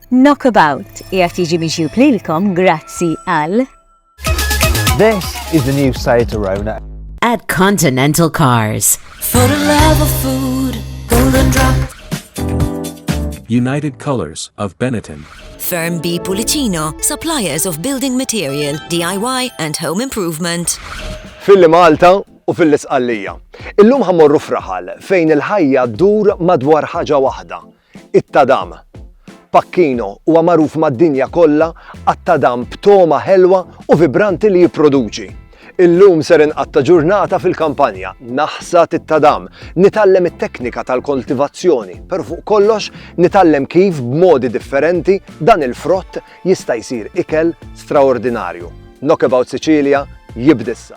Knockabout qiegħed jiġi miġjub lilkom grazzi għal This is the new side to Rona. At Continental Cars. For the love of food, golden drop. United Colors of Benetton. Firm B Pulicino, suppliers of building material, DIY and home improvement. Filli Malta u fil-Isqallija. Illum ħammorru fraħal fejn il-ħajja dur madwar ħaġa waħda, It-tadam, Pacchino, huwa magħruf mad-dinja kollha għat-tadam b'togħma ħelwa u vibranti li jipproduċi. Illum ser inqatta' ġurnata fil-kampanja, naħsad it-tadam, nitgħallem it-teknika tal-koltivazzjoni, però fuq kollox nitgħallem kif b'modi differenti dan il-frott jista' jsir ikel straordinarju. Knockabout Sicilia jibd'issa!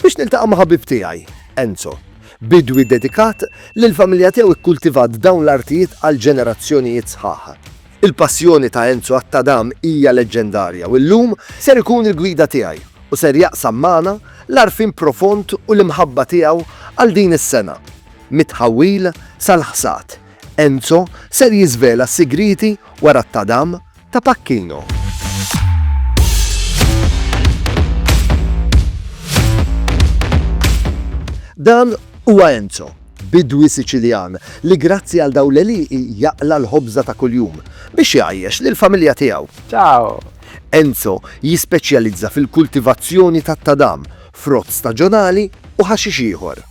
Biex niltaqa' ma' ħabib tiegħi, Enzo. Bidwi dedikat li l-familja tiegħu ikkultivat dawn l-artijiet għal ġenerazzjonijiet sħaħ. Il-passjoni ta' Enzo għat-tadam hija leġġendarja u llum ser ikun il-gwida tiegħi u ser jaqsam magħna l-għarfien profond u l-imħabba tiegħu għal din is-sengħa. Mit-tħawwil sal-ħsad, Enzo ser jiżvela s-sigrieti wara t-tadam, ta' Pacchino. Dan huwa Enzo, bidwi Siċiljan li grazzi għal dawn l-għelieqi jaqla' l-ħobża ta' kuljum biex igħajjex lill-familja tiegħu. Ciao! Enzo jispeċjalizza fil-kultivazzjoni tat-tadam, frott staġonali u ħaxix ieħor.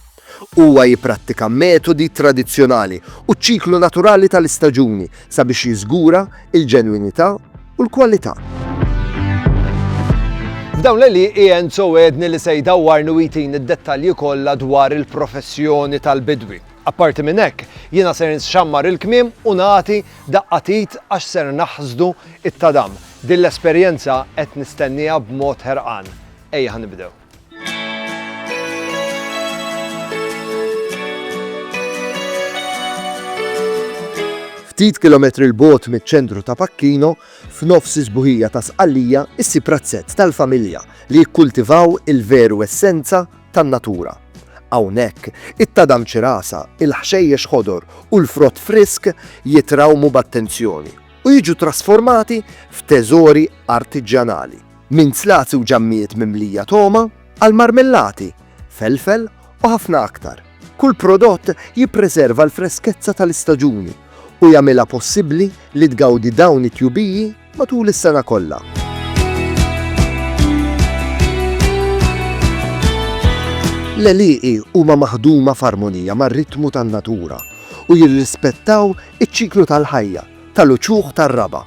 Huwa jipprattika metodi tradizzjonali u ċ-ċiklu naturali tal-istaġuni sabiex jiżgura l-ġenwinità u l-kwalità. F'dawn l-għelieqi Enzo għedni li se jdawwarni u jtini d-dettalji kollha dwar il-professjoni tal-bidwi. Apparti minn hekk, jiena ser nxammar il-kmiem u nagħti daqqa t'id għax ser naħsdu t-tadam. Din l-esperjenza qed nistennieha b'mod ħerqan. Ejja ħa nibdew. Ftit kilometri l-bogħod miċ-ċentru ta' Pacchino, f'nofs is-sbuħija ta' Sqallija, issib razzett tal-familja li jikkultivaw il-veru essenza tan-natura. Hawnhekk, it-tadam ċirasa, il-ħxejjex ħodor u l-frott frisk jitrawmu b'attenzjoni u jiġu trasformati f'teżori artiġjanali. Minn zlazzi u ġammijiet mimlija togħma, għal marmellati, felfel u ħafna aktar, kull prodott jippreserva l-freskezza tal-istaġuni u jagħmilha possibbli li tgawdi dawn it-tjubiji matul is-sena kollha. L-għelieqi huma maħduma f'armonija mar-ritmu tan-natura u jirrispettaw iċ-ċiklu tal-ħajja. tal-uċuħ tar-raba'.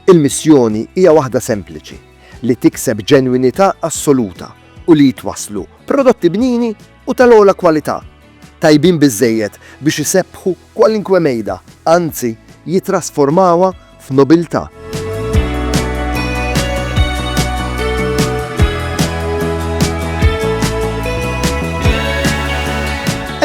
Il-missjoni hija waħda sempliċi, li tikseb ġenwinità assoluta u li jitwasslu prodotti bnini u tal-ogħla kwalità, tajbin biżżejjed biex isebbħu kwalinkwe mejda, anzi jittrasformawha f'nobiltà.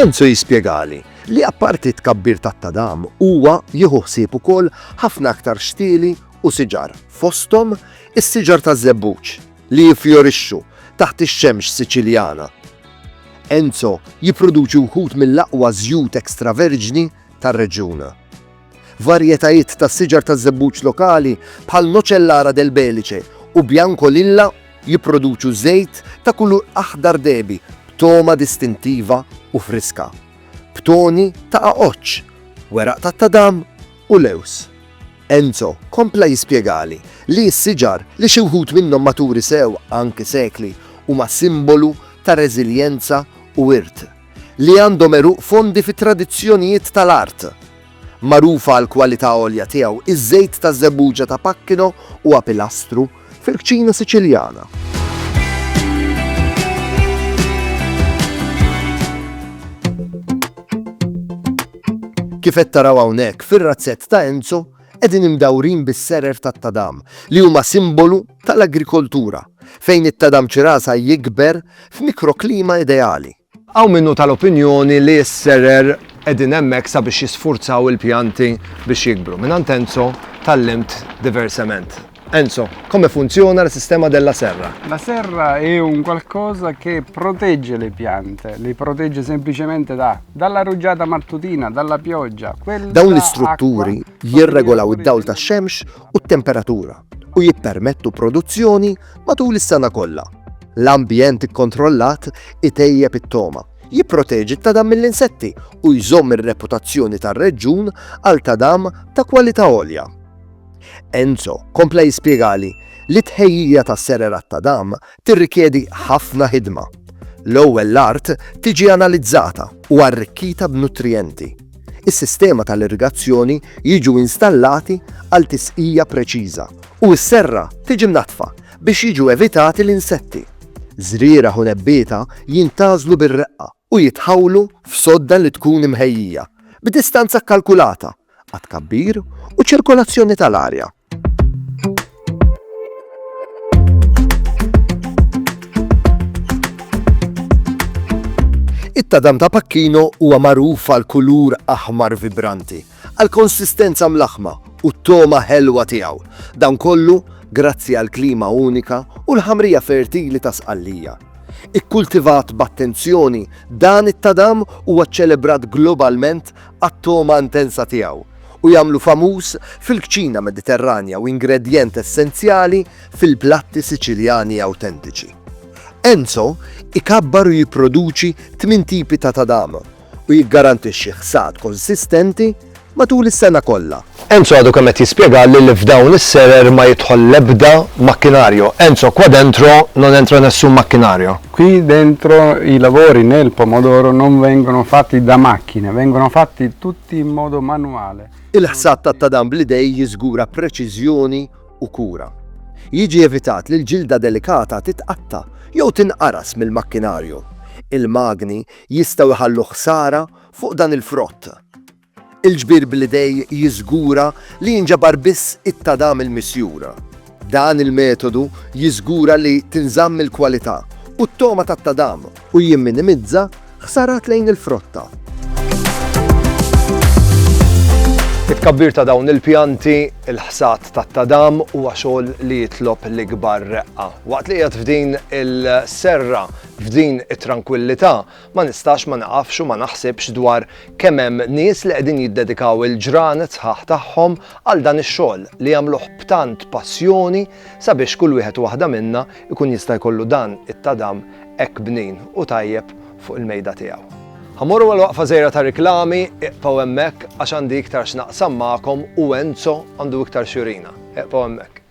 Enzo jispjegali. li apparti t-tkabbir tat-tadam huwa jieħu ħsieb ukoll ħafna aktar xtieli u siġar, fosthom is-siġar taż-żebbuġ li jiffjorixxu taħt ix-xemx Siċiljana. Enzo jipproduċi wħud mill-aqwa żjut extraverġni tar-reġjun. Varjetajiet tas-siġar taż-żebbuġ lokali bħal Nocellara del Belice u Bianco Lilla jipproduċu żejt ta' kulur aħdar dehbi b'togħma distintiva u friska, b'toni ta' għaġġ, weraq tat-tadam u lewż. Enzo kompla jispjegali li s-siġar, li xi wħud minnhom maturi sew anki sekli, huma simbolu ta' reżiljenza u wirt. li għandhom għeruq fondi fit-tradizzjonijiet tal-art. Magħruf għall-kwalità għolja tiegħu, iż-żejt taż-żebbuġa ta' Pacchino huwa pilastru fil-kċina Siċiljana. Kif qed taraw hawnhekk fir-razzett ta' Enzo, qegħdin imdawrin bis-serer tat-tadam li huma simbolu tal-agrikoltura fejn it-tadam ċirasa jikber f'mikroklima ideali. Hawn min hu tal-opinjoni li s-serer qegħdin hemmhekk sabiex jisfurzaw il-pjanti biex jikbru. Mingħand Enzo tgħallimt diversement. Enzo, come funziona la sistema della serra? La serra è un qualcosa che protegge le piante, li protegge semplicemente da dalla ruġġata mattutina, dalla pioggia. Dawn l-istrutturi jirregolaw id-dawl tax-xemx u t-temperatura u jippermettu produzzjoni matul is-sena kollha. L-ambjent ikkontrollat itejjeb it-togħma, jipproteġi t-tadam mill-insetti u jżomm ir-reputazzjoni tar-reġjun għal tadam ta' kwalità għolja. Enzo kompla jispjegali li t-tħejjija ta' sererat ta' dam tirrikjedi ħafna ħidma. L-ewwel l-art tiġi analizzata u arrikkita b'nutrijenti. Is-sistema tal-irrigazzjoni jiġu installati għal tisqija preċiża u s-serra tiġi mnaddfa biex jiġu evitati l-insetti. Żrieragħ u nebbieta jintgħażlu bir-reqqa u jitħawlu f'sodda li tkun imħejjija b'distanza kkalkulata għat-tkabbir u ċ-ċirkolazzjoni tal-arja. It-tadam ta' Pacchino huwa magħruf għal kulur aħmar vibranti, għal konsistenza mlaħma u t-toma ħelwa tiegħu. Dan kollu grazzi għal klima unika u l-ħamrija fertili ta' sqallija. Ikkultivat b'attenzjoni, dan it-tadam huwa ċċelebrat globalment għat-togħma intensa tiegħu u jagħmlu famuż fil-kċina Mediterranja u ingredjent essenzjali fil-platti Siċiljani awtentiċi. Enzo ikabbar u jipproduċi tmien tipi ta' tadam u jiggarantixxi ħsad konsistenti matul is-sena kollha. Enzo għadu kemm qed jispjegalli li f'dawn is-serer ma jidħol l-ebda makkinario. Enzo, qua dentro non entra nessun macchinaro. Qui dentro i lavori nel pomodoro non vengono fatti da macchine, vengono fatti tutti in modo manuale. Il-ħsad tat-tadam bl-idejn jiżgura preċiżjoni u kura. Jiġi evitat li l-ġilda delikata titqatta' jew tinqaras mill-makkinario. Il-magni jistgħu jħallu ħsara fuq dan il-frott. Il-ġbir bl-idej jiżgura li jinġabar biss it-tadam il-misjur. Dan il-metodu jiżgura li tinżamm il-kwalità u t-togħma tat-tadam u jimminimizza ħsarat lejn il-frotta. It-tkabbir ta' dawn il-pjanti, il-ħsad tat-tadam huwa xogħol li jitlob l-ikbar reqqa. Waqt li qiegħed f'din il-serra, f'din it-trankwillità, Ma nistax ma niqafx u ma naħsibx dwar kemm hemm nies li qegħdin jiddedikaw il-ġranet sħaħ tagħhom għal dan ix-xogħol li jagħmluh b'tant passjoni sabiex kull wieħed u waħda minna jkun jista' jkollu dan it-tadam hekk bnin u tajjeb fuq il-mejda tiegħu. Ħa mmorru għal waqfa żgħira ta' riklami, iqfgħu hemmhekk għax għandi iktar x'naqsam magħkom u Enzo għandu iktar x'jurina. Iqfgħu hemmhekk.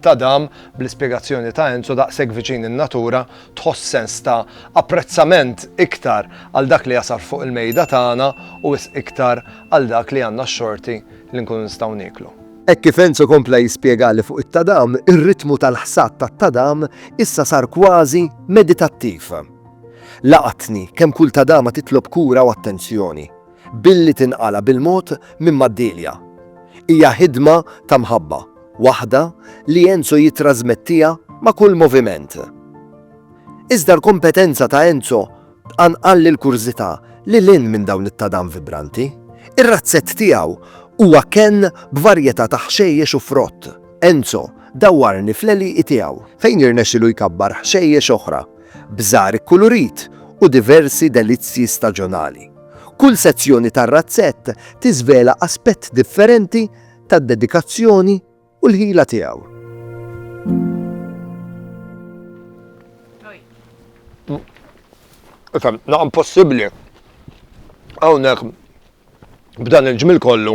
ta' dam, bl-ispjegazzjoni ta' Enzo daqshekk viċin in-natura tħoss sens ta' apprezzament iktar għal dak li jasal fuq il-mejda tagħna u wisq iktar għal dak li għandna x-xorti li nkunu nistgħu nieklu. Hekk kif Enzo kompla jispjegali fuq it-tadam, ir-ritmu tal-ħsad tat-tadam issa sar kważi meditattiv. Laqatni kemm kull tadama titlob kura u attenzjoni. billi tinqala' bil-mod minn Maddilia. Hija ħidma ta' mħabba, waħda li Enzo jittrażmettiha ma' kull moviment. Iżda l-kompetenza ta' Enzo tqanqal lill-kurżità lil hinn minn dawn it-tadam vibranti. Ir-razzett tiegħu huwa kenn b'varjetà ta' ħxejjex u frott. Enzo dawwarni fl-għelieqi tiegħu. Fejn jirnexxilu jkabbar ħxejjex oħra, bżar ikkulurit u diversi delizzji staġonali. Kull sezzjoni tar-razzett tiżvela aspett differenti tad-dedikazzjoni u l-ħila tiegħu. Ifhem, naqam possibbli hawnhekk b'dan il-ġmiel kollu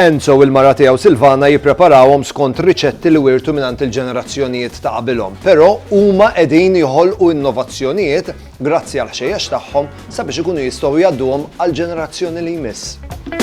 Enzo u l-mara tiegħu Silvana jippreparawhom skont riċetti li wiertu mingħand il-ġenerazzjonijiet ta' qabilhom, però huma qegħdin joħolqu innovazzjonijiet grazzi għall-ħxejjex tagħhom sabiex ikunu jistgħu jgħadduhom għall-ġenerazzjoni li jmiss.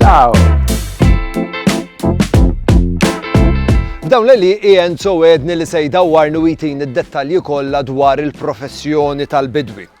Ciao! F'dawn li Ian so edni li se jdawwarni u jtini d-dettalji kollha dwar il-professjoni tal-bidwi.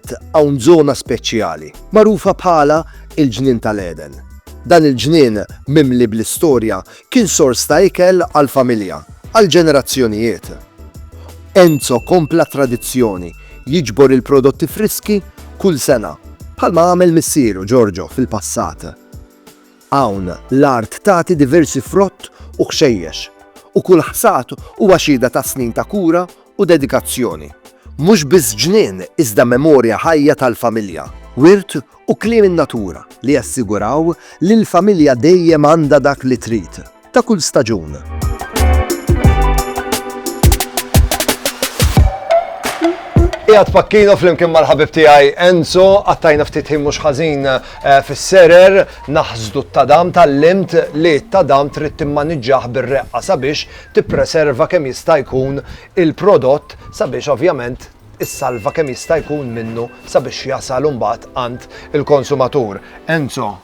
Fil-fatt, hawn żona speċjali, magħrufa bħala l-Ġnien tal-Għeden. Dan il-ġnien mimli bl-istorja kien sors ta' ikel għall-familja għal ġenerazzjonijiet. Enzo kompla t-tradizzjoni, jiġbor il-prodotti friski kull sena, bħalma għamel missieru Giorgio fil-passat. Hawn, l-art tagħti diversi frott u ħxejjex, u kull ħsad huwa xhieda ta' snin ta' kura u dedikazzjoni. Mhux biss ġnien iżda memorja ħajja tal-familja, wirt u kliem in-natura li jassiguraw li l-familja dejjem għandha dak li trid. ta' kull staġun. Ijat pakkino fl-imkien mal-ħabib tijaj Enzo, għattajna ftit ħin mux ħazin eh, fil-serer, naħzdu t-tadam tal-limt li t-tadam trid timmaniġġaħ bir-reqqa sabiex tippreserva kemm jista' jkun il-prodott sabiex ovvjament is-salva kemm jista' jkun minnu sabiex jasal imbagħad għand il-konsumatur. Enzo,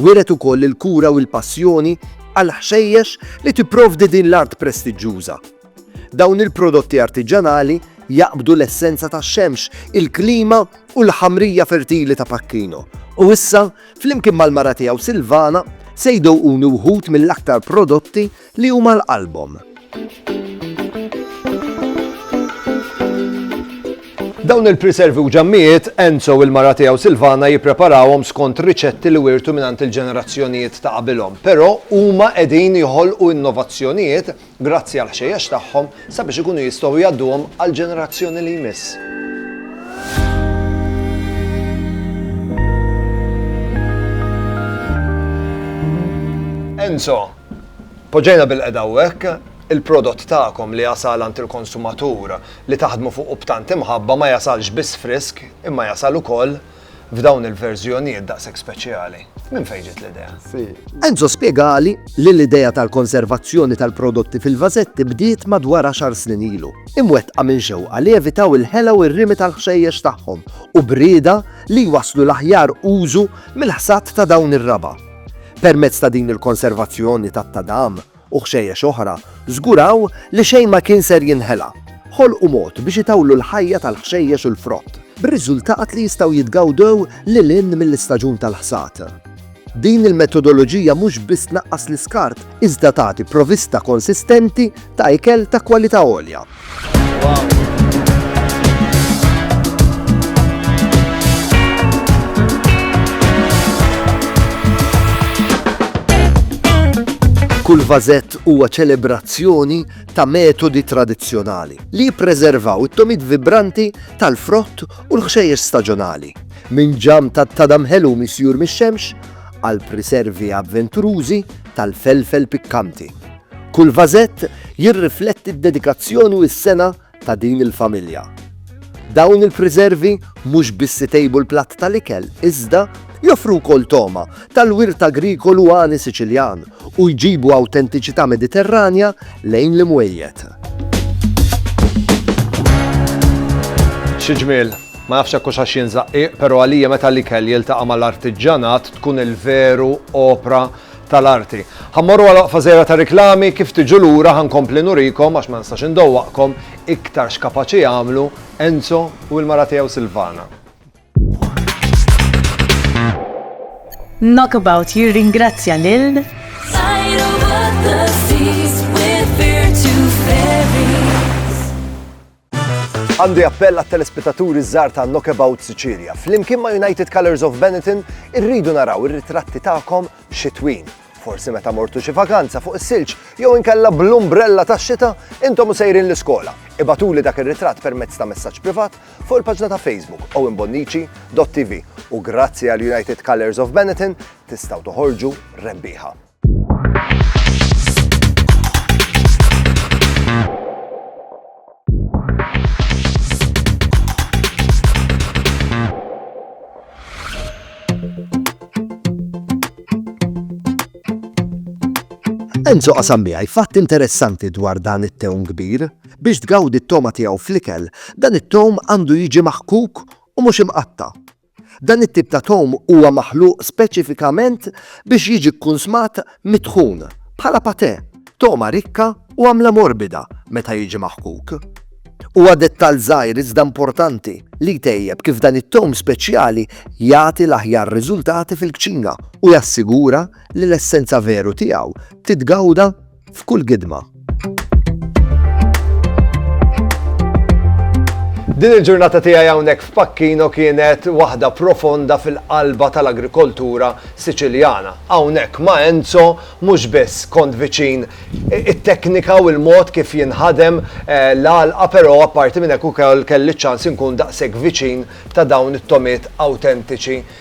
Wriet ukoll il-kura u l-passjoni għall-ħxejjex li tipprovdi din l-art prestiġġuża. Dawn il-prodotti artiġjanali jaqbdu l-essenza tax-xemx, il-klima u l-ħamrija fertili ta' Pacchino, u issa, flimkien mal-mara tiegħu Silvana, se jdooquni wħud mill-aktar prodotti li hu mal qalbhom. Dawn il-priservi u ġammijiet, Enzo u l-mara tiegħu Silvana jippreparawhom skont riċetti li wiertu mingħand il-ġenerazzjonijiet ta' qabilhom, però huma qegħdin joħolqu innovazzjonijiet grazzi għall-ħxejjex tagħhom sabiex ikunu jistgħu jgħadduhom għall-ġenerazzjoni li jmiss. Enzo, Poġġejna bil-qiegħda hawnhekk il-prodott tagħkom li jasal għand il-konsumatur li taħdmu fuqu b'tant imħabba ma jasalx biss frisk imma jasal ukoll f'dawn il-verżjonijiet daqshekk speċjali. Minn fejn ġiet l-idea? Enzo spjegali li l-idea tal-konservazzjoni tal-prodotti fil-vażetti bdiet madwar għaxar snin ilu, imwettqa minn xewqa li jevitaw il-ħela u r-rimi tal-ħxejjex tagħhom u b'rieda li jwasslu l-aħjar użu mill-ħsad ta' dawn ir-raba'. Permezz ta' din il-konservazzjoni tat-tadam u ħxejjex oħra, żguraw li xejn ma kien ser jinħela. Ħolqu mod biex itawlu l-ħajja tal-ħxejjex u l-frott, bir-riżultat li jistgħu jitgawdew lil hinn mill-istaġun tal-ħsad. Din il-metodoloġija mhux biss tnaqqas l-iskart iżda tagħti provista konsistenti ta' ikel ta' kwalità għolja. Kull vażett huwa ċelebrazzjoni ta' metodi tradizzjonali li jippreservaw it-tomit vibranti tal-frott u l-ħxejjex staġjonali. Minn ġam tat-tadam ħelu misjur mix-xemx għal priservi avventurużi tal-felfel pikkanti. Kull vażett jirrifletti d-dedikazzjoni u s-sengħa ta' din il-familja. Dawn il-priservi mhux biss itejbu l-platt tal-ikel iżda joffru wkoll togħma tal-wirt agrikolu għani Siċiljan u jġibu awtentiċità Mediterranja lejn l-imwejjed. Xi ġmiel! Ma nafx hekk hux għax jien żaqqieq, però għalija meta l-ikel jiltaqa' mal-artiġġanat tkun il-veru opra tal-arti. Ħa mmorru għal waqfa żgħira ta' riklami, kif tiġu lura ħa nkompli nurikom, għax ma nistax indowwaqkom, iktar x'kapaċi jagħmlu Enzo u l-mara tiegħu Silvana. Knockabout jirringrazzja lil Sajru Għandi appell għat telespetaturi żgħar ta' Knockabout Sicilia. Flimkien ma' United Colors of Benetton irridu naraw ir-ritratti tagħkom xitwin. Forsi meta mortu xi vakanza fuq is-silġ jew inkella bl-umbrella tax-xita intom u sejrin l-iskola. Ibatuli dak ir-ritratt permezz ta' messaġġ privat fuq il-paġna ta' Facebook owenbonnici.tv u grazzi għal United Colors of Benetton tistgħu toħorġu rebbieħa. Enzo qasam miegħi fatt interessanti dwar dan it-tewm kbir. Biex tgawdi t-toma tiegħu fl-ikel, dan it-tewm għandu jiġi maħkuk u mhux imqatta. Dan it-tip ta' tom huwa maħluq speċifikament biex jiġi kkunsmat mitħun, bħala patè, togħma rikka u għamla morbida meta jiġi maħkuk. Huwa dettall żgħir iżda importanti li jtejjeb kif dan it-tom speċjali jagħti l-aħjar riżultati fil-kċina u jassigura li l-essenza veru tiegħu titgawda f'kull gidma. Din il-ġurnata tiegħi hawnhekk f'Pakkino kienet waħda profonda fil-qalba tal-agrikoltura Siċiljana. Hawnhekk ma' Enzo mhux biss kont viċin it-teknika u l-mod kif jinħadem eh, l-għalqa però apparti minn hekk ukoll kelli ċans inkun daqshekk viċin ta' dawn it-tomiet awtentiċi